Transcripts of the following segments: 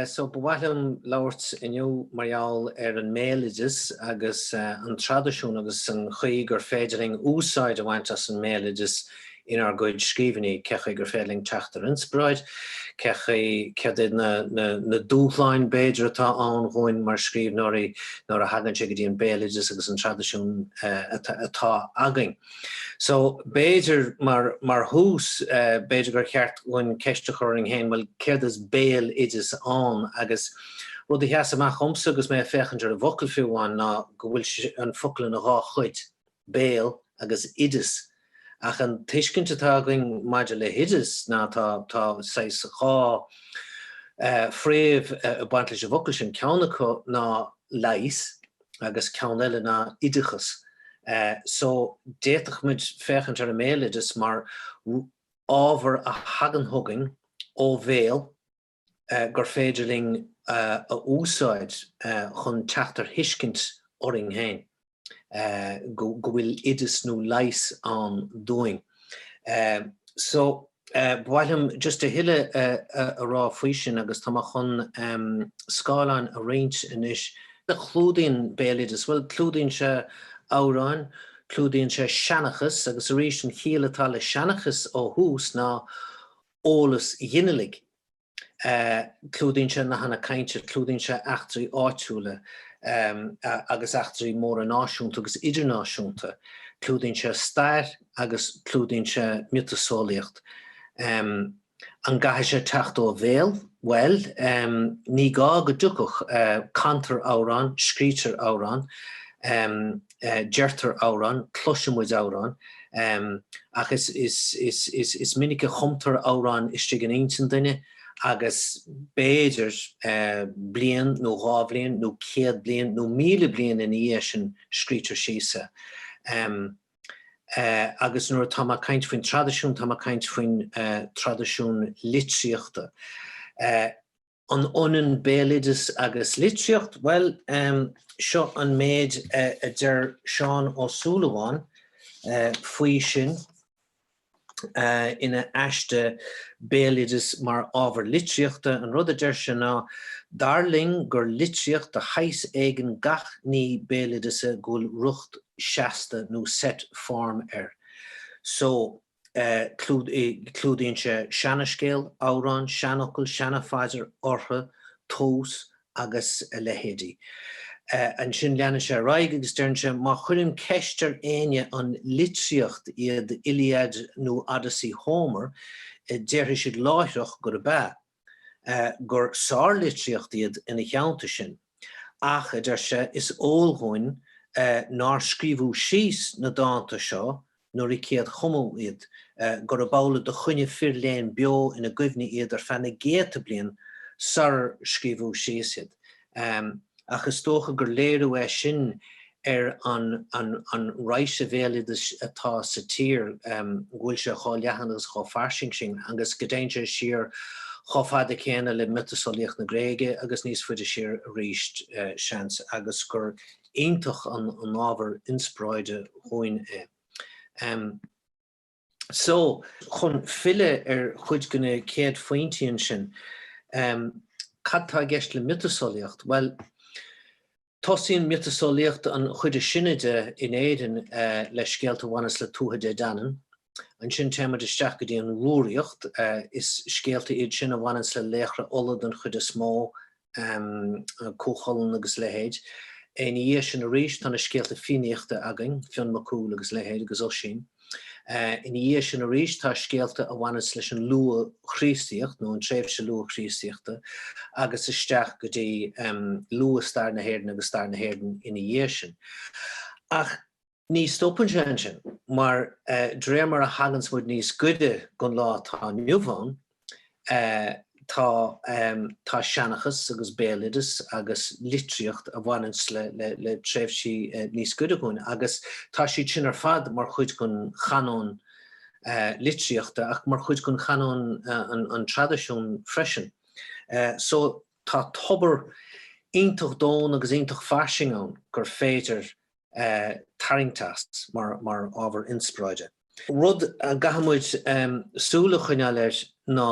So ba mhaith liom labhairt inniu mar gheall ar an mbéaloideas agus an traidisiún agus an chaoi gur féidir linn úsáid a bhaint as an mbéaloideas inár gcuid scríbhinní, cé chaoi gur féidir linn teacht ar inspioráid, cé chaoi, céard iad na na dúshláin b'fhéidir atá ann dhúinn mar scríbhneoirí nuair a thagann sé go dtí an béaloideas agus an traidisiún atá againn. So, b'fhéidir, mar, mar thús, b'fhéidir gur cheart dhúinn ceist a chur orainn féin, bhuel, céard is béaloideas ann? Agus rud a sheas amach dhomsa agus mé ag féachaint ar an bhfocal fiú amháin ná go bhfuil sé, an focal ina dhá chuid, béal agus oideas. Ach an tuiscint atá againn maidir le hoideas ná tá, tá saghas dhá eh, fréamh ag baint leis an bhfocal sin, ceann acu ná leigheas, agus ceann eile ná oideachas so d'fhéadfadh muid féachaint ar an mbéaloideas mar ábhar a thagann chugainn ó bhéal gur féidir linn a úsáid chun teacht ar thuiscint orainn féin go bhfuil oideas nó leigheas ann dúinn. Ba mhaith liom just a thuilleadh a rá faoi sin agus tá mé chun scáileán a roinnt anois. Clúdaíonn béaloideas, bhuel, clúdaíonn sé amhráin, clúdaíonn sé seanchas agus arís an chiall atá le seanchas ó thús ná eolas ghinealaigh. Clúdaíonn sé nathanna cainte, clúdaíonn sé eachtraí áitiúla agus eachtraí móra náisiúnta agus idirnáisiúnta, clúdaíonn sé stair agus clúdaíonn sé miotaseolaíocht. An gcaithfidh sé teacht ó bhéal? Bhuel, ní gá go dtiocfadh. Cantar amhráin, scrítear amhráin. deirtear amhráin, cloiseann muid amhráin, ach is minic a chumtar amhráin istigh in intinn duine agus b'fhéidir bliain nó dhá bhliain nó céad bliain nó míle bliain ina dhiaidh sin scrítear síos é. Agus nuair atá mé ag caint faoin traidisiún, tá mé ag caint faoin traidisiún litríochta. An ionann béaloideas agus litríocht? Bhuel, seo an méid a deir Seán Ó Súilleabháin faoi sin ina aiste 'Béaloideas mar ábhar litríochta', An rud a deir sé ná, 'Dar liom gur litríocht de shaghas éigin gach ní béaloideasa go bhfuil riocht seasta nó set form air. So. Clúdaíonn sé seana-scéal, amhrán, seanfhocal, seana-phaidir, ortha, tomhas agus a leithéidí. Ansin leanann sé ar aghaidh agus deireann sé, Má chuirim ceist ar éinne an litríocht iad Iliad nó Odyssey Homer, déarfaidh siad láithreach gurb ea. gur sárlitríocht iad ina theannta sin, ach, a deir sé, is eol dhúinn nár scríobhadh síos na dánta seo nuair a céadchumadh iad, gur amhlaidh do choinnigh fir léinn beo ina gcuimhne iad ar feadh na gcéadta bliain sarar scríobhadh síos iad. Amm, ach is dócha gur léiriú é sin ar an, an, an raidhse bhéaloidis atá sa tír, amm, go bhfuil sé chomh leathan agus chomh fairsing sin agus go dtéann sé siar chomh fada céanna le miotaseolaíocht na Gréige agus níos faide siar arís, seans, agus gur iontach an, an ábhar inspioráide dhúinn é. Amm. So, chun filleadh ar chuid de na céad phointí ansin, cad atá i gceist le miotaseolaíocht? Bhuel, tosaíonn miotaseolaíocht, an chuid is sine de, in Éirinn le scéalta a bhaineas le Tuatha Dé Danann. Ansin téann muid isteach go dtí an Rúraíocht, is scéalta iad sin a bhaineas le laochra Uladh den chuid is mó, Cú Chulainn agus a leithéid. Ina dhiaidh sin arís tá na scéalta Fiannaíochta againn, Fionn Mac Cumhaill agus a leithéid agus Oisín. Ina dhiaidh sin arís tá scéalta a bhaineas leis an luath-Chríostaíocht nó an tréimhse luath-Chríostaíochta agus isteach go dtí luath-stair na hÉireann agus stair na hÉireann ina dhiaidh sin. Ach. Ní stopann sé ansin, mar d'réir mar a thaganns muid níos gaire gon lá atá inniu ann, tá, tá seanchas agus béaloideas agus litríocht a bhaineanns le, le, le tréimhsí níos gaire dhúinn agus tá siad sin ar fad mar chuid gon chanóin litríochta ach mar chuid gon chanóin an, an traidisiún freisin. So tá tobar iontach domhain agus iontach fairsing ann gur féidir tarraingt as mar ábhar inspioráide. Rud a gcaithfidh muid súil a choinneáil air ná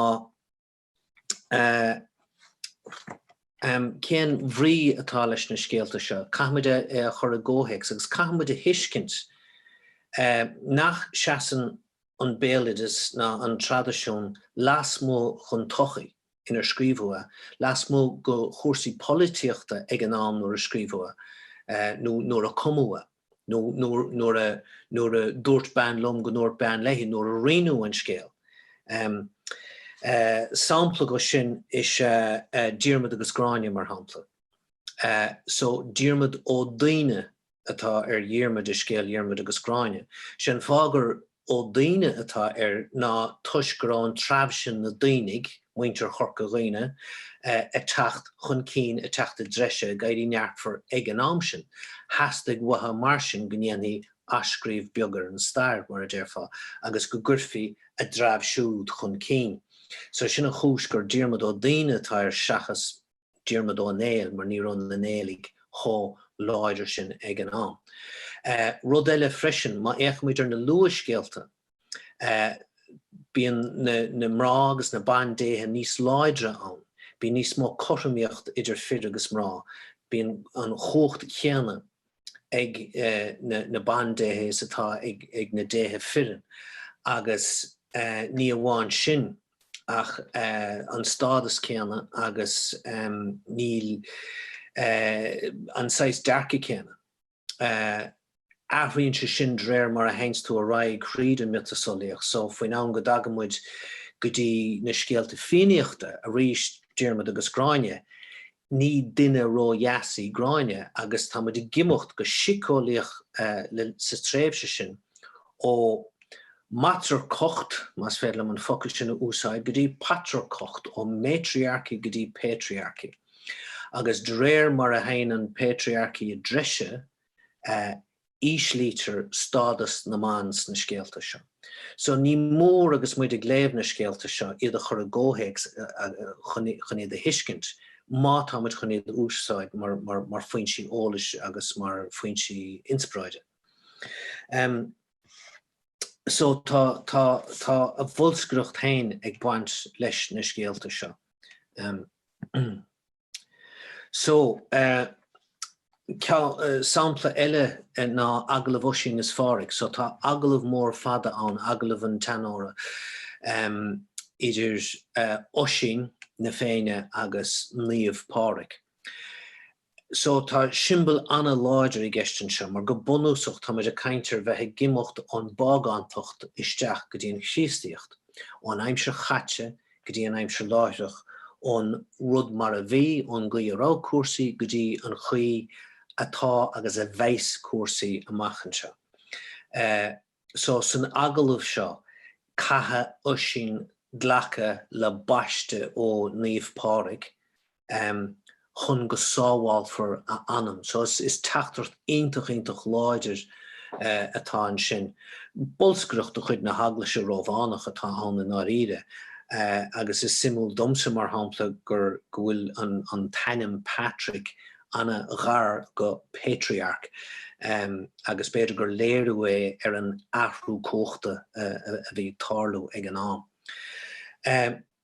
cén bhrí atá leis na scéalta seo. Caithfidh muid é a chur i gcomhthéacs agus caithfidh muid a thuiscint nach seasann an béaloideas ná an traidisiún lasmuigh den tsochaí. inar scríobhadh, lasmuigh go chúrsaí polaitíochta ag an am nuair a scríobhadh, nó nuair a cumadh, nó nuair a, nuair a dúirt bean liom go ndúirt bean léi, nuair a rinneadh an scéal. Sampla de sin is ea Diarmaid agus Gráinne, mar shampla. So, Diarmaid Ó Duibhne atá ar Dhiarmuid i scéal Dhiarmuid agus Gráinne. Sé an fáth gur Ó Duibhne atá air ná toisc go raibh an treabh sin, na Duibhnigh, muintir Chorca Dhuibhne, ag teacht chun cinn, ag teacht i dtreise, ag éirí neartmhar ag an am sin. Theastaigh uathu mar sin go ndéanfaí athscríobh beag ar an stair, mar a déarfá, agus go gcuirfí a dtreabh siúd chun cinn. So sin an chúis gur Diarmuid Ó Duibhne atá air seachas. Diarmuid Ó Néill mar ní raibh na Néilligh chomh láidir sin ag an am. Rud eile freisin, má fhéachaimid ar na luathscéalta, bíonn na mná agus na bandéithe níos láidre ann, bíonn níos mó cothromaíocht idir fir agus mná, bíonn an cumhacht chéanna ag na bandéithe is atá ag na déithe fireann agus ní amháin sin ach an stádas céanna agus an saghas dearcaidh céanna. Athraíonn sé sin de réir mar a théanns tú ar aghaidh thríd an miotaseolaíocht so faoin am go dtagann muid go dtí na scéalta Fiannaíochta arís, Diarmuid agus Gráinne, Ní duine ró-dheas í Gráinne agus tá muid ag imeacht go síceolaíoch sa tréimhse sin ó matrarcacht, más féidir liom an focal sin a úsáid, go dtí patrarcacht, ó matriarchy go dtí patriarchy. Agus de réir mar a théann an patriarchy i dtreise, íslítear stádas na mban sna scéalta seo. So ní mór agus muid ag léamh na scéalta seo iad a chur i gcomhthéacs chun iad a thuiscint má tá muid chun iad a úsáid mar foinsí eolais agus mar foinsí inspioráide. So tá tá a bholscaireacht féin ag baint leis na scéalta seo. So, eh, sampla eile ná agallamh Oisín is Pháraic. So tá agallamh mór fada ann, agallamh na Seanórach, em, idir, eh, Oisín na Féinne agus Naomh Páraic. So tá siombal an-láidir i gceist anseo mar go bunúsach tá muid ag caint ar bheith ag imeacht ón bpágántacht isteach go dtí an Chríostaíocht, ón aimsir chaite go dtí an aimsir láithreach, ón rud mar a bhí, ón gcaoi a raibh cúrsaí, go dtí an chaoi atá agus a bheas cúrsaí amach anseo. So san agallamh seo caithfidh Oisín glacadh le baiste ó Naomh Páraic, chun go sábhálfar a anam. So is teachtaireacht iontach, iontach láidir atá ansin. Bolscaireacht de chuid na hEaglaise Rómhánach atá ann i ndáiríre agus is suimiúil domsa mar shampla gur, go bhfuil an t-ainm Patrick an-ghar go patriarch agus b'fhéidir gur léiriú é ar an athrú cumhachta a bhí ag tarlú ag an am.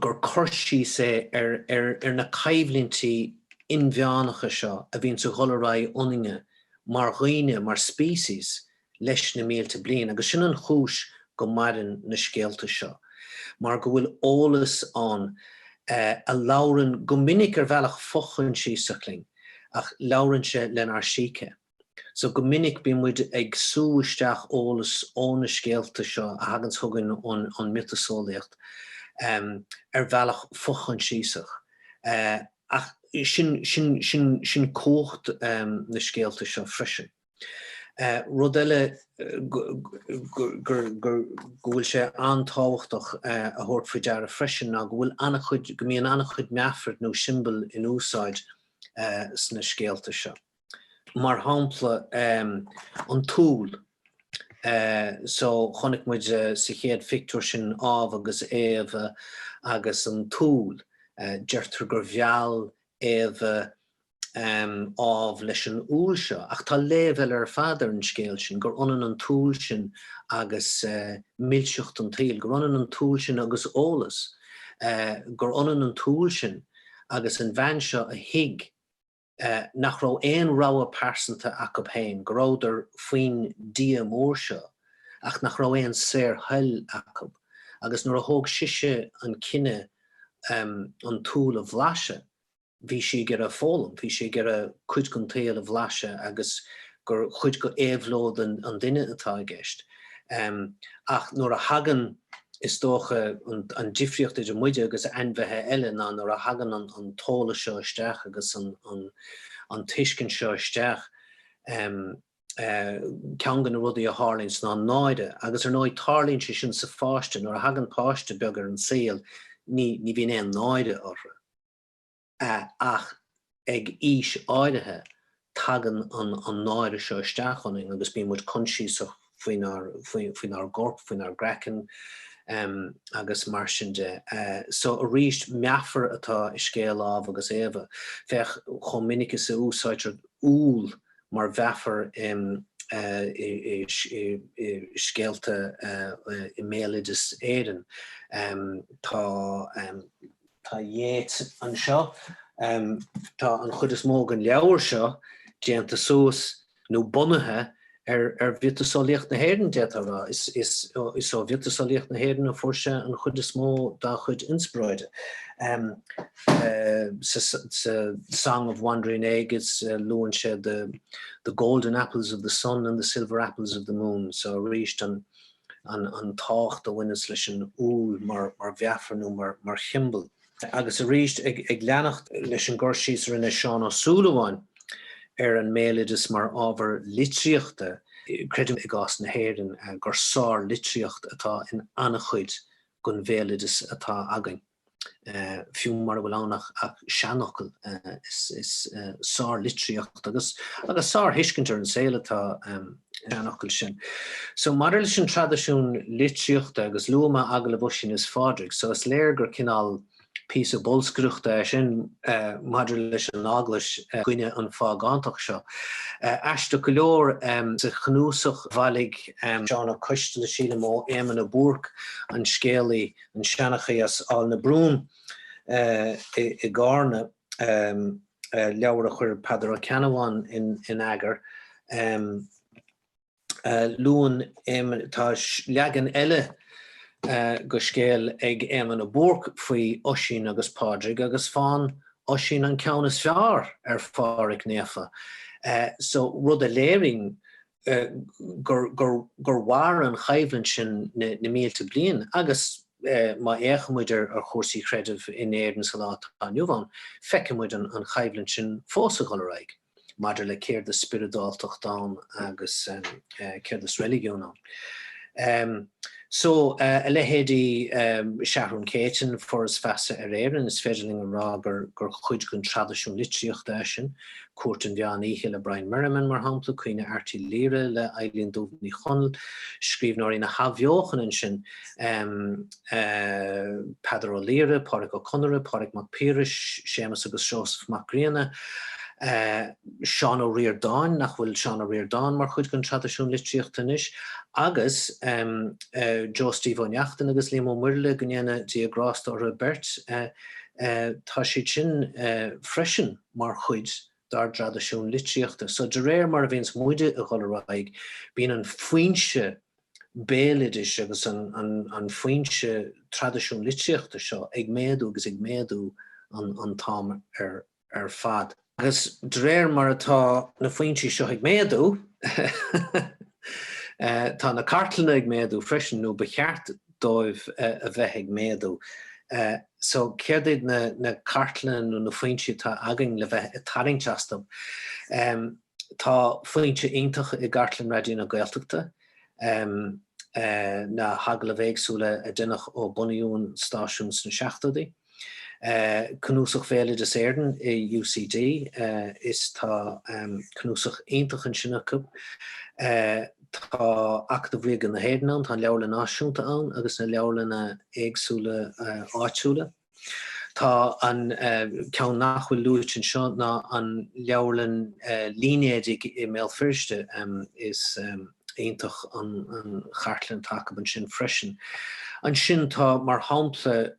gur cur síos é ar na coimhlintí inmheánacha seo a bhíonns ag dul ar aghaidh ionainne mar dhaoine, mar species, leis na mílte bliain agus sin an chúis go maireann na scéalta seo, mar go bhfuil eolas ann a labhrann, go minic ar bhealach fochoinsiasach, linn ach labhrann sé lenár síce. So go minic bíonn muid ag sú isteach eolas ó na scéalta seo a thaganns chugainn ón miotaseolaíocht ar bhealach fochoinsiasach. Ach sin cumhacht na scéalta seo freisin. Rud eile go bhfuil sé an-tábhachtach a thabhairt faoi deara freisin ná go bhfuil an-chuid, go mbíonn an-chuid meafair nó siombail in úsáid sna scéalta seo. mar shampla an t-úll so chonaic muid sa chéad phictiúr sin Ádhamh agus Éabha agus an t-úll, deirtear gur mheall Éabha Ádhamh leis an úll seo ach tá léamh eile ar fad ar an scéal sin, gur ionann an t-úll sin agus milseacht an tsaoil, gur ionann an t-úll sin agus eolas, gur ionann an t-úll sin agus an bhean seo a thuig. nach raibh aon rogha pearsanta acub féin, go rabhadar faoin Dia mór seo ach nach raibh aon saorthoil acub agus nuair a thóg sise an cinneadh an t-úll a bhlaiseadh bhí sí ag iarraidh foghlaim, bhí sí ag iarraidh cuid den tsaol a bhlaiseadh agus gur chuid d'éabhlóid an duine atá i gceist. Ach nuair a thagann, is dócha, an difríocht idir muide agus ainmhithe eile ná nuair a thagann an t-eolas seo isteach agus an tuiscint seo isteach, ceann de na rudaí a tharlaíonns ná náire. Agus ar ndóigh, tarlaíonn sé sin sa pháiste. Nuair a thagann páiste beag ar an saol, ní bhíonn aon náire orthu. a ach ag aois áirithe tagann an an náire seo isteach ionainn agus bíonn muid coinsiasach faoinár faoinár gcorp, faoinár gcraiceann em agus mar sin de. So arís meafar atá i scéal Ádhamh agus Éabha. Féach chomh minic is a úsáidtear úll mar mheafar em i i i scéalta i mbéaloideas Éireann. Em tá em. Tá Yeats anseo. Tá an chuid is mó den leabhar seo déanta suas nó bunaithe ar mhiotaseolaíocht na hÉireann, d'fhéadfá a rá. Is ó mhiotaseolaíocht na hÉireann a fuair sé an chuid is mó dá chuid inspioráide. Sa Song of Wandering Aengus luann sé the golden apples of the sun and the silver apples of the moon, so arís an tábhacht a bhaineas leis an úll mar mheafar nó mar shiombal. Agus arís, ag leanacht leis an gcur síos a rinne Seán Ó Súilleabháin ar an mbéaloideas mar ábhar litríochta, creidim i gcás na hÉireann gur sárlitríocht atá in an-chuid den bhéaloideas atá againn. fiú mura bhfuil ann ach seanfhocal, is sárlitríocht agus sárthuiscint ar an saol atá sa seanfhocal sin. So, maidir leis an traidisiún litríochta, agus luaigh mé agallamh Oisín is Phádraig, so is léir gur cineál píosa bolscaireachta é sin maidir leis an Eaglais i gcoinne an phágántacht seo. Aisteach go leor, sa chnuasach a bhailigh Liam Mac Coisteala, sílim, ó Éamon a Búrc, an scéalaí, an seanchaí as Aill na Brón i gCárna, leabhar a chuir Peadar Ó Ceannabháin in eagar. Luann Éamonn, tá leagan eile de scéal ag Éamonn a Búrc faoi Oisín agus Pádraig agus faigheann Oisín an ceann is fearr ar Phádraig Naofa, rud a léiríonn gur mhair an choimhlint sin na mílte bliain agus má fhéachann muid ar chúrsaí creidimh in Éirinn sa lá atá inniu ann, feiceann muid an choimhlint sin fós ag dhul ar aghaidh maidir le céard is spioradáltacht ann agus céard is reiligiún ann. So, a leithéidí Seathrún Céitinn, Foras Feasa ar Éirinn, is féidir linn a rá gur cuid den traidisiún litríochta eisean, Cúirt an Mheán Oíche le Brian Merriman, mar shampla, Caoineadh Airt Uí Laoire le Eibhlín Dubh Ní Chonaill, scríbhneoirí na hAthbheochana ansin, Peadar Ó Laoghaire, Pádraic Ó Conaire, Pádraig Mac Piarais, Séamus agus Seosamh Mac Grianna, Seán Ó Ríordáin, nach bhfuil Seán Ó Ríordáin mar chuid den traidisiún litríochta anois? agus Joe Steve Ó Neachtain agus Liam Ó Muirthile, go ndéana Dia grásta orthu beirt, tá siad sin freisin. mar chuid dár dtraidisiún litríochta. So de réir mar a bhíonns muide a dhul ar aghaidh bíonns an foinse béaloidis agus an foinse traidisiún litríochta seo ag méadú agus ag méadú an t-am ar fad. Agus de réir mar atá na foinsí seo ag méadú tá na cartlanna ag méadú freisin nó ba cheart dóibh a bheith ag méadú. So céard iad na cartlanna nó na foinsí atá againn le bheith ag tarraingt astub? Tá foinse iontach i gcartlann Raidió na Gaeltachta, na hagallaimh éagsúla a déanadh ó bunaíodh an stáisiún sna seachtóidí. Cnuasach Bhéaloideas Éireann i UCD tá cnuasach iontach ansin acub. Tá Acadamh Ríoga na hÉireann ann, tá an Leabharlann Náisiúnta ann agus na leabharlanna éagsúla áitiúla. Tá ceann nach bhfuil luaite anseo ná an leabharlann línéadaigh i mBéal Feirste. iontach an chartlann atá acub ansin freisin. Ansin tá mar shampla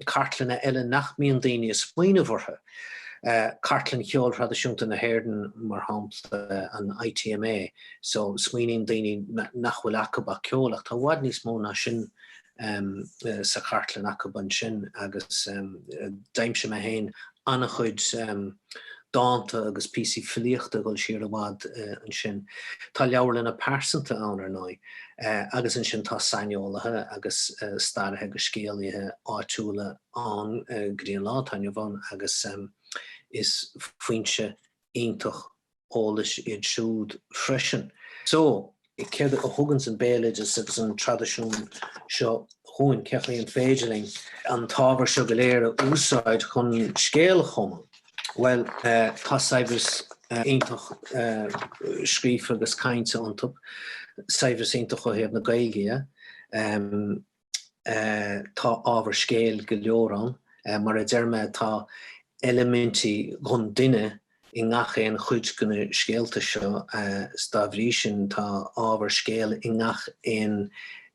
cartlanna eile nach mbíonn daoine ag smaoineamh orthu, cartlann cheol thraidisiúnta na hÉireann mar shampla, an ITMA, so smaoiníonn daoine nach bhfuil acub ach ceol ach tá i bhfad níos mó ná sin sa chartlann acub ansin agus d'aimsigh mé féin an-chuid dánta agus píosaí filíochta ag dul siar i bhfad ansin. Tá leabharlanna pearsanta ann, ar ndóigh, agus ansin tá saineolaithe agus staraithe agus scéalaithe áitiúla ann go dtí an lá atá inniu ann agus is foinse iontach eolais iad siúd freisin. So, céard a thuganns an béaloideas agus an traidisiún seo dhúinn? Cén chaoi an féidir linn an t-ábhar seo go léir a úsáid chun scéal a chumadh? Bhuel, tá saibhreas iontach scríofa agus cainte iontub, saibhreas iontach ó thaobh na Gaeilge dhe. Tá ábhar scéil go leor ann. Mar a deir mé, tá eilimintí dhon duine i ngach aon chuid de na scéalta seo is dá bhrí sin tá ábhar scéil i ngach aon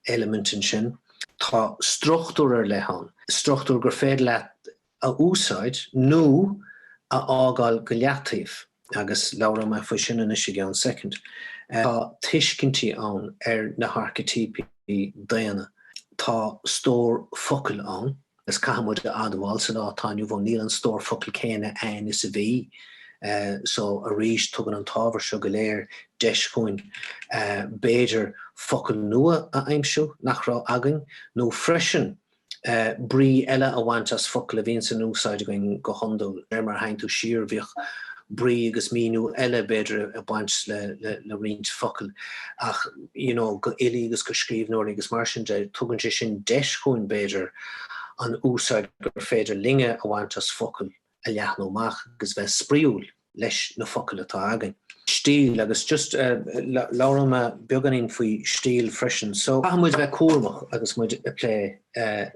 eilimint ansin. Tá struchtúr ar leith ann, struchtúr gur féidir leat a úsáid nó a fhágáil go leataobh, agus labhróidh mé faoi sin anois i gceann soicind. Tá tuiscintí ann ar na haircitíopaí daonna, tá stór focal ann, agus caithfidh muid a admháil sa lá atá inniu ann níl an stór focal céanna ann is a bhí, só arís tugann an t-ábhar seo go léir deis dhúinn b'fhéidir focail nua a aimsiú nach raibh againn nó freisin, brí eile a bhaint as focal a bhíonns in úsáid againn go hiondúil. Mar má théann tú siar, bhíodh brí agus míniú eile b'fhéidir ag baint le roinnt focal ach you know go fhilí agus go scríbhneoirí agus mar sin de, tugann sé sin deis dhúinn b'fhéidir an úsáid gur féidir linne a bhaint as focail a leathnú amach agus bheith spraíúil leis na focail atá againn. Stíl, agus just, labhróidh mé beagáinín faoi stíl freisin. So, caithfidh muid bheith cúramach agus muid ag plé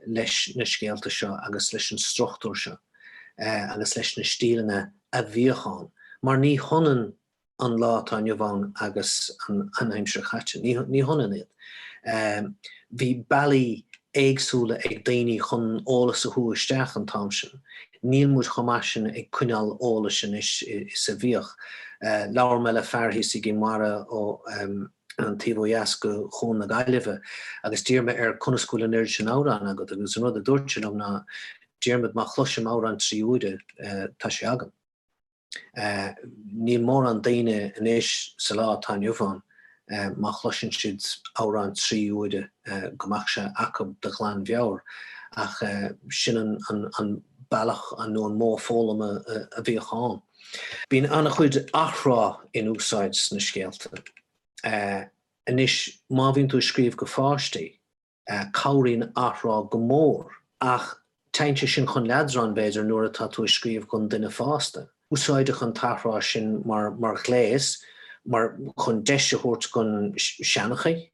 leis na scéalta seo agus leis an struchtúr seo agus leis na stíleanna a bhíodh ann mar ní hionann an lá atá inniu ann agus an aimsir chaite. Ní hionann iad. Bhí bealaí éagsúla ag daoine chun eolas a shú isteach an t-am sin. Níl muid chomh maith sin ag coinneáil eolais anois is a bhíodh. Labhair mé le fear thíos i gCinn Mhara ar an taobh ó dheas de Chuan na Gaillimhe agus d'iarr mé air conas go bhfuil an oiread sin amhrán agat agus an rud a dúirt sé liom ná, Diarmaid, má chloisim amhrán trí huaire, tá sé agam. Níl mórán daoine anois sa lá atá inniu ann má chloiseann siad amhrán trí huaire go mbeadh sé acu de ghlanmheabhair ach sin an bealach nó an modh foghlama a bhíodh ann. Bíonn an-chuid athrá in úsáid sna scéalta anois. Má bhíonn tú ag scríobh go pháistí, Cabhraíonn athrá go mór. Ach téann sé sin chun leadráin, b'fhéidir, nuair atá tú ag scríobh gon duine fásta. Úsáideadh an t-athrá sin mar ghléas mar chun deis a thabhairt gon seanchaí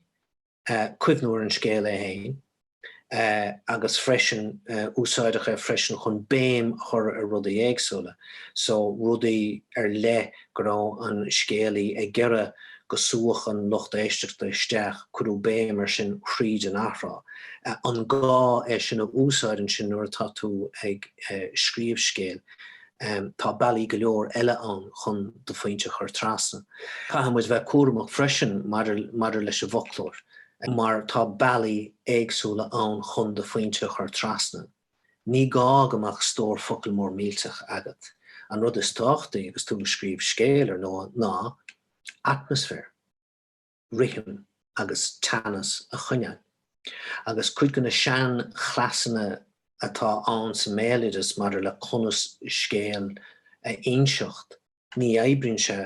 cuimhniú ar an scéal é féin agus freisin úsáideadh é freisin chun béim a chur ar rudaí éagsúla, so rudaí ar leith go raibh an scéalaí ag iarraidh go súfadh an lucht éisteachta isteach, cuireadh béim air sin thríd an athrá. An gá é sin a úsáid ansin nuair atá tú ag scríobh scéil? Tá bealaí go leor eile ann chun do phointe a chur trasna. Caithfidh muid bheith cúramach freisin maidir leis an bhfoclóir mar tá bealaí éagsúla ann chun do phointe a chur trasna. Ní gá go mbeadh stór focal mór millteach agat, an rud is tábhachtaí agus tú ag scríobh scéil, ar ndóigh, ná atmaisféar, rithim agus teannas a choinneáil. Agus cuid de na seanchleasanna atá ann sa mbéaloideas maidir le conas scéal a inseacht, Ní oibríonn sé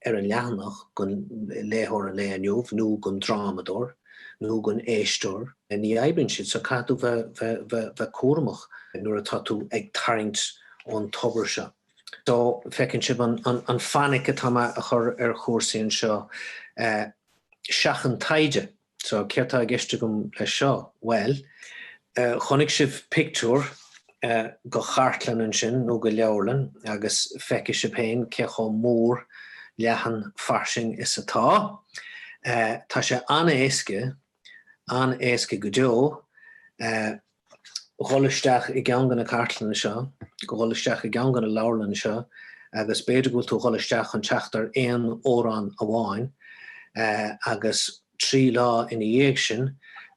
ar an leathanach don léitheoir an lae inniu, nó don drámadóir, nó don éisteoir. Ní oibríonn siad, so caithfidh tú bheith cúramach nuair atá tú ag tarraingt ón tobar seo. So, feiceann sibh an fainic atá mé a chur ar chúrsaí anseo. Seachain taighde. So, céard tá i gceist agam leis seo? Bhuel, chonaic sibh pictiúr de chartlann ansin, nó de leabharlann, agus feicfidh sibh féin cé chomh mór, leathan, fairsing is atá sé. Tá sé an-éasca, an-éasca go deo. dhul isteach i gceann de na cartlanna seo, dhul isteach i gceann de na leabharlanna seo agus b'fhéidir go bhfuil tú ag dhul isteach chun teacht ar aon amhrán amháin agus trí lá ina dhiaidh sin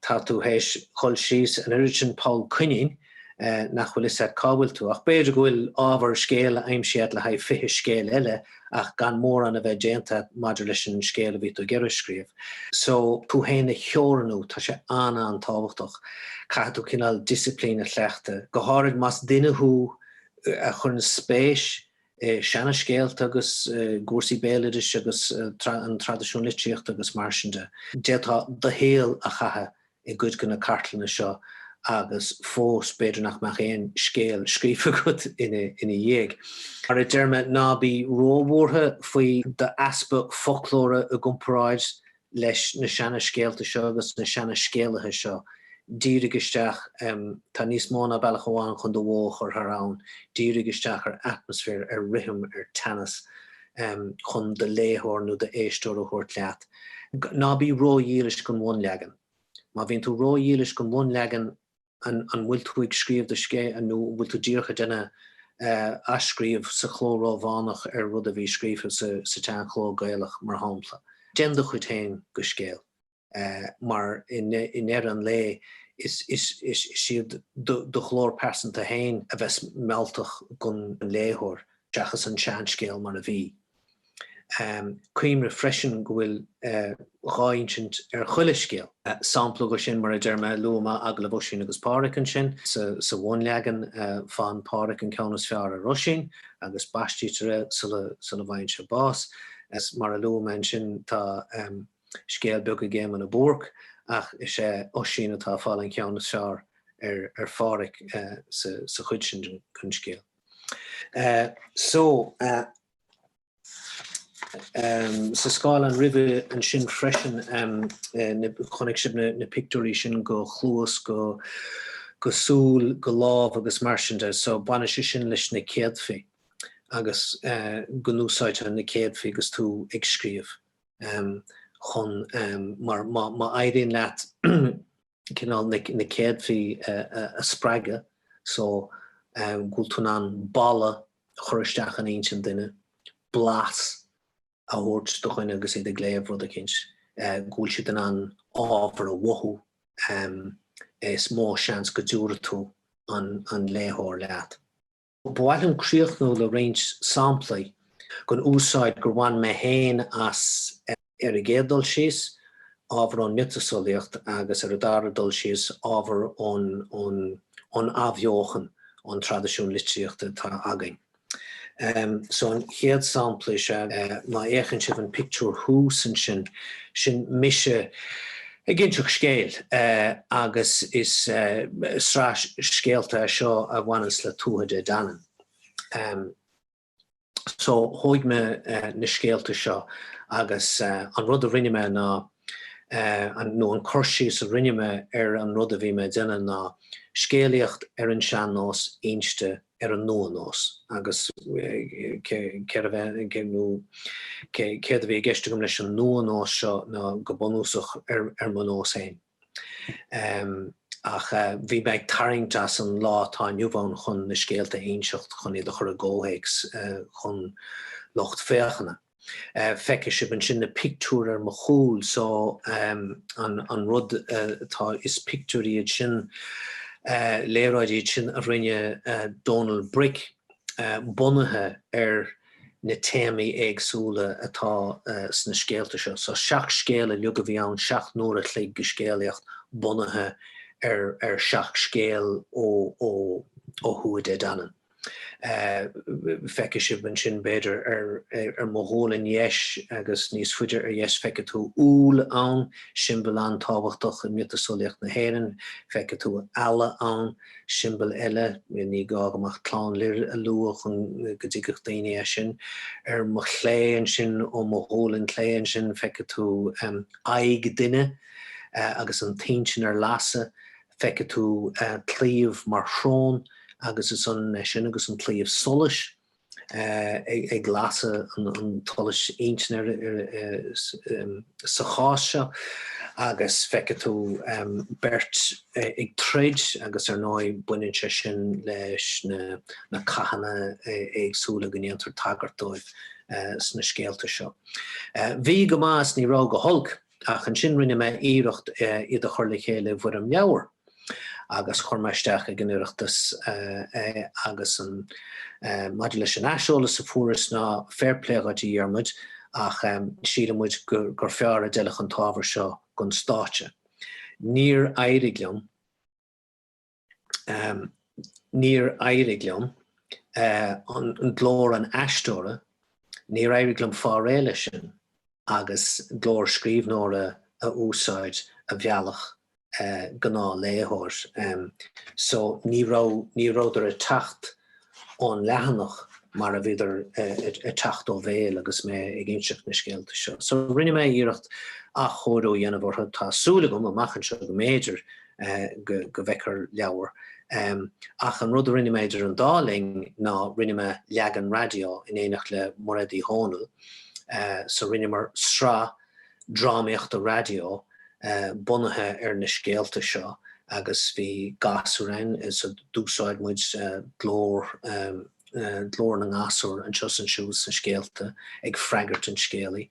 tá tú théis dhul síos an oiread sin poll coinín nach bhfuil fhios a't cá bhfuil tú. Ach b'fhéidir go bhfuil ábhar scéil aimsithe a't le haghaidh fiche scéal eile ach gan mórán a bheith déanta maidir leis an scéal a bhí tú ag iarraidh a scríobh. So, tú fhéin a theorannú, tá sé an-an-tábhachtach. Caithfidh tú cineál disciplín a chleachtadh, go háirid más duine thú a chuireann spéis i seana-scéalta agus i gcúrsaí béaloidis agus an traidisiún litríochta agus mar sin de. D'fhéadfá do shaol a chaitheamh i gcuid de na cartlanna seo agus fós b'fhéidir nach mbeadh aon scéal scríofa agat ina dhiaidh. Mar a deir mé, ná bí róbhuartha faoi d'easpa foclóra i gcomparáid leis na seana scéalta seo agus na seana scéalaithe seo. Dírigí isteach, tá níos mó ná bealach amháin chun do bhó a chur thar abhainn, dírigí isteach ar atmaisféar, ar rithim, ar theannas. chun do léitheoir nó do éisteoir a thabhairt leat. Ná bí ró-dhílis don bhunleagan. Má bhíonn tú ró-dhílis don bhunleagan an bhfuil tú ag scríobh do scéil nó an bhfuil tú díreach ag déanamh athscríobh sa chló Rómhánach ar rud a bhí scríofa sa tseanchló Gaelach mar shampla? Déan do chuid féin den scéal. mar i ndeireadh an lae is é do ghlór pearsanta féin a bheas mealltach don léitheoir seachas an seanscéal mar a bhí. Cuimhnigh freisin go bhfuil dhá insint ar chuile scéal. Sampla de sin, mar a deir mé, luaigh mé Agallamh Oisín agus Phádhraic ansin. Sa bhunleagan, faigheann Pádhraic an ceann is fearr ar Oisín agus baistítear é sula bhfaigheann sé bás. Mar a luaigh mé ansin, tá. Scéal beag ag Éamonn a Búrc, ach is é Oisín atá ag fáil an ceann is fearr ar Phádhraic sa chuid sin den scéal. Sa scáileán roimhe sin freisin chonaic sibh na pictiúirí sin de chluas, de shúil, de lámh agus mar sin de. So baineann sé sin leis na céadfaí agus go n-úsáidtear na céadfaí agus tú ag scríobh. chun mar má éiríonn leat cineál na céadfaí a spreagadh so go bhfuil tú in ann boladh a chur isteach in intinn duine, blas a thabhairt do dhuine agus iad ag léamh rud eicínt go bhfuil siad in ann ábhar a mhothú is mó seans go dtiúrfaidh tú an léitheoir leat. Ba mhaith liom críochnú le roinnt samplaí den úsáid gur bhain mé féin as. Ar an gcéad dul síos, ábhar ón miotaseolaíocht agus ar an dara dul síos, ábhar ón Athbheochan, ón traidisiún litríochta atá againn. So an chéad sampla is ea, má fhéachann sibh an pictiúr thuas ansin, sin mise Ag inseacht scéil, agus is sraith scéalta e seo a bhaineanns le Tuatha Dé Danann. So, thóig mé na scéalta seo agus an rud a rinne mé ná, nó an cur síos a rinne mé ar an rud a bhí mé a dhéanamh ná, scéalaíocht ar an sean-nós inste ar an nua-nós agus céard a bheith nó céard a bhí i gceist agam leis an nua-nós seo ná go bunúsach ar mo nós féin. Ach bhí mé ag tarraingt as an lá atá inniu ann chun na scéalta a inseacht, chun iad a chur i gcomhthéacs don lucht féachana. Feicfidh sibh ansin na pictiúir ar mo chúl so an rud atá, is pictiúir iad sin, léaráidí iad sin a rinne Dónal Bric bunaithe ar na téamaí éagsúla atá sna scéalta seo. So seacht scéal uilig a bhí ann, seacht n-uair a chloig de scéalaíocht bunaithe ar seacht scéal ó Thuatha Dé Danann. feicfidh sibh ansin b'fhéidir ar mo ghualainn dheis agus níos faide ar dheis feicfidh tú úll ann, siombail an-tábhachtach i miotaseolaíocht na hÉireann. Feicfidh tú eala ann, siombail eile, ní gá dom ach Clann Lir a lua chun go dtuigfeadh daoine é sin. Ar mo chlé ansin, ó mo ghualainn clé ansin, feicfidh tú aghaidh duine agus an intinn ar lasadh. Feicfidh tú claíomh mar shrón agus is ionann é sin agus an claíomh solais ag lasadh an tsolais intinne sa chás seo agus feicfidh tú beirt ag troid agus ar ndóigh baineann sé sin leis na cathanna éagsúla go ndéantar tagairt dóibh sna scéalta seo. Bhí go maith is ní raibh go holc. Ach ansin rinne mé iarracht iad a chur le chéile i bhfoirm leabhair agus chuir mé isteach ag an Oireachtas é agus an maidir leis an aiseolas a fuaireas ná fair play dhuit a Dhiarmuid ach síleann muid gur fearr a d'fheilfeadh an t-ábhar seo don stáitse. Níor éirigh liom. Níor éirigh liom, glór an aisteora, níor éirigh liom fáil réidh leis sin agus glór scríbhneora a úsáid a mheallfadh gnáthléitheoir. So ní raibh, ní rabhadar ag teacht ón leathanach mar a bhíodar ag teacht ó bhéal agus mé ag inseacht na scéalta seo. So rinne mé iarracht athchóiriú a dhéanamh orthu. Tá súil agam amach anseo go mb'fhéidir go bhfeicfear leabhar. Ach an rud a rinne mé idir an dá linn ná rinne mé leagan raidió in éineacht le Mairéad Ní Dhomhnaill. So rinneamar sraith. drámaíochta raidió bunaithe ar na scéalta seo agus bhí gasúir ann so d'úsáid muid glór glór na ngasúr anseo is ansiúd sna scéalta ag freagairt an scéalaí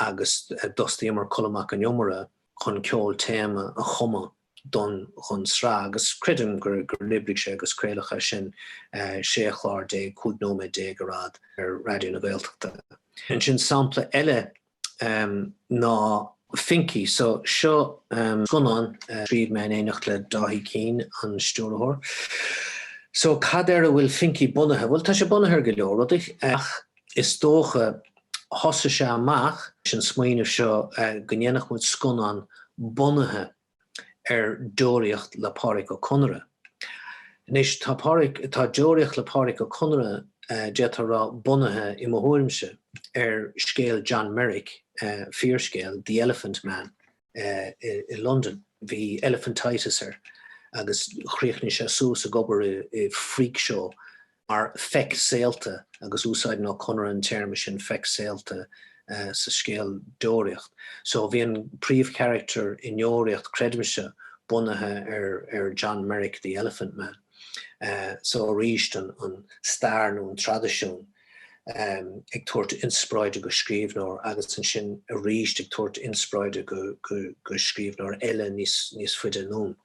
agus d'fhostaíomar Colm Mac an Iomaire chun ceol téama a chumadh don chun sraith agus creidim gur oibrigh sé agus craolachadh sin 16 chlár 15 nóiméad ar fhad ar Raidió na Gaeltachta. Ansin sampla eile ná Finky. So seo scannán a scríobh mé in éineacht le Dáithí Keane, an stiúrthóir. So cad ar a bhfuil Finky bunaithe? Bhuel tá sé bunaithe ar go leor rudaí ach Is dócha, thosaigh sé amach leis an smaoineamh seo go ndéanfadh muid scannán bunaithe ar Deoraíocht le Pádraic Ó Conaire. Anois, tá Deoraíocht le Pádraic Ó Conaire, d'fhéadfá a rá, bunaithe, i mo thuairimse, ar scéal John Merrick, fíorscéal, The Elephant Man. i London. Bhí elephantitis air agus chríochnaigh sé suas ag obair i freak show mar 'feic saolta' agus úsáideann Ó Conaire an téarma sin 'feic saolta' sa scéal Deoraíocht. So bhí an príomhcharactar i nDeoraíocht creidimse bunaithe ar John Merrick, the Elephant Man. So arís an stair nó an traidisiún. ag tabhairt inspioráide do scríbhneoir agus ansin arís ag tabhairt inspioráide do scríbhneoir eile níos faide anonn.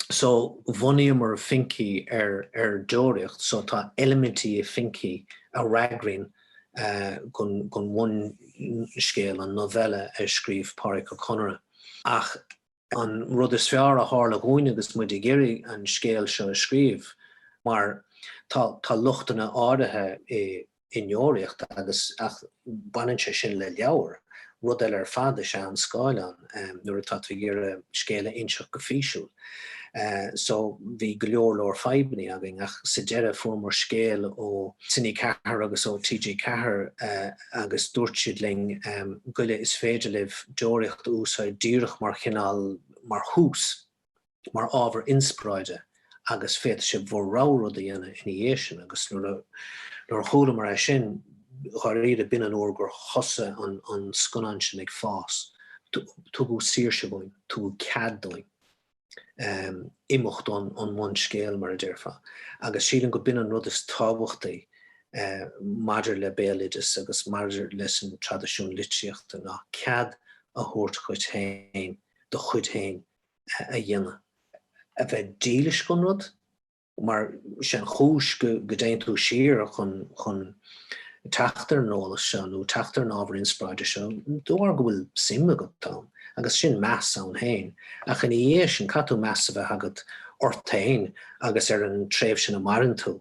So bhunaíomar Finky ar ar Deoraíocht so tá eilimintí i Finky a fhreagraíonn don bhunscéal, an novella a scríobh Pádraic Ó Conaire ach, An rud is fearr a tharla dhúinn agus muid ag iarraidh an scéal seo a scríobh, mar tá lochtanna áirithe i nDeoraíocht agus, ach baineann sé sin le leabhar, rud eile ar fad is ea an scáileán nuair atá tú ag iarraidh scéal a inseacht go físiúil. So bhí go leor leor fadhbanna againn ach sa deireadh fuaireamar scéal ó Cine4 agus ó TG4 a agus dúirt siad linn, goilligí is féidir libh Deoraíocht a úsáid díreach mar chineál, mar thús, mar ábhar inspioráide agus féadfaidh sibh bhur rogha rud a dhéanamh ina dhiaidh sin agus nuair a, nuair a chualamar é sin, dháiríre, b'in an uair gur thosaigh an, an scannán sin ag fás. Tugadh saoirse dúinn, tugadh cead dúinn. imeacht ón mbunscéal, mar a déarfá, agus sílim gurb in an rud is tábhachtaí maidir le béaloideas agus maidir leis an traidisiún litríochta ná cead a thabhairt dhuit féin do chuid féin a dhéanamh, a bheith dílis don rud. mar sin an chúis go dtéann tú siar chun teacht ar an eolas seo nó teacht ar an ábhar inspioráide seo de bharr go bhfuil suim agat ann agus sin meas ann féin ach ina dhiaidh sin caithfidh tú meas a bheith agat ort féin agus ar an tréimhse ina maireann tú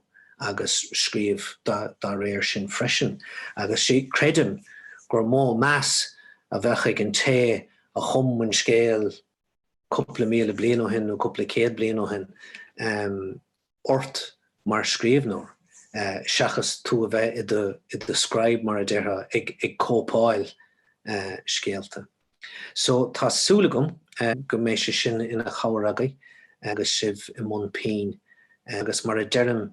agus scríobh dá réir sin freisin agus creidim gur mó meas a bheadh ag an té a chum an scéal cúpla míle bliain ó shin nó cúpla céad bliain ó shin ort mar scríbhneoir seachas tú a bheith i do scribe, mar a déarfá, ag cóipeáil scéalta. So tá súil agam go mbeidh sé sin ina chabhair agaibh agus sibh i mbun pinn agus mar a deirim,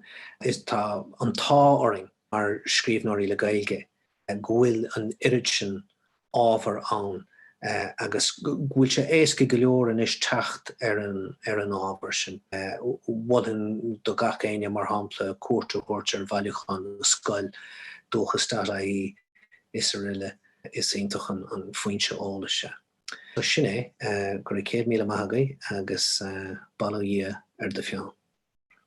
tá an t-ádh orainn mar scríbhneoirí le Gaeilge go bhfuil an oiread sin ábhar ann agus go bhfuil sé éasca go leor anois teacht ar an ábhar sin. Mholfainn do gach éinne, mar shampla, cuairt a thabhairt ar bhailiúchán na Scol, dúchas.ie, is aroile. Is iontach an foinse eolais é. So sin é. Go raibh céad míle maith agaibh agus bail ó Dhia ar do pheann.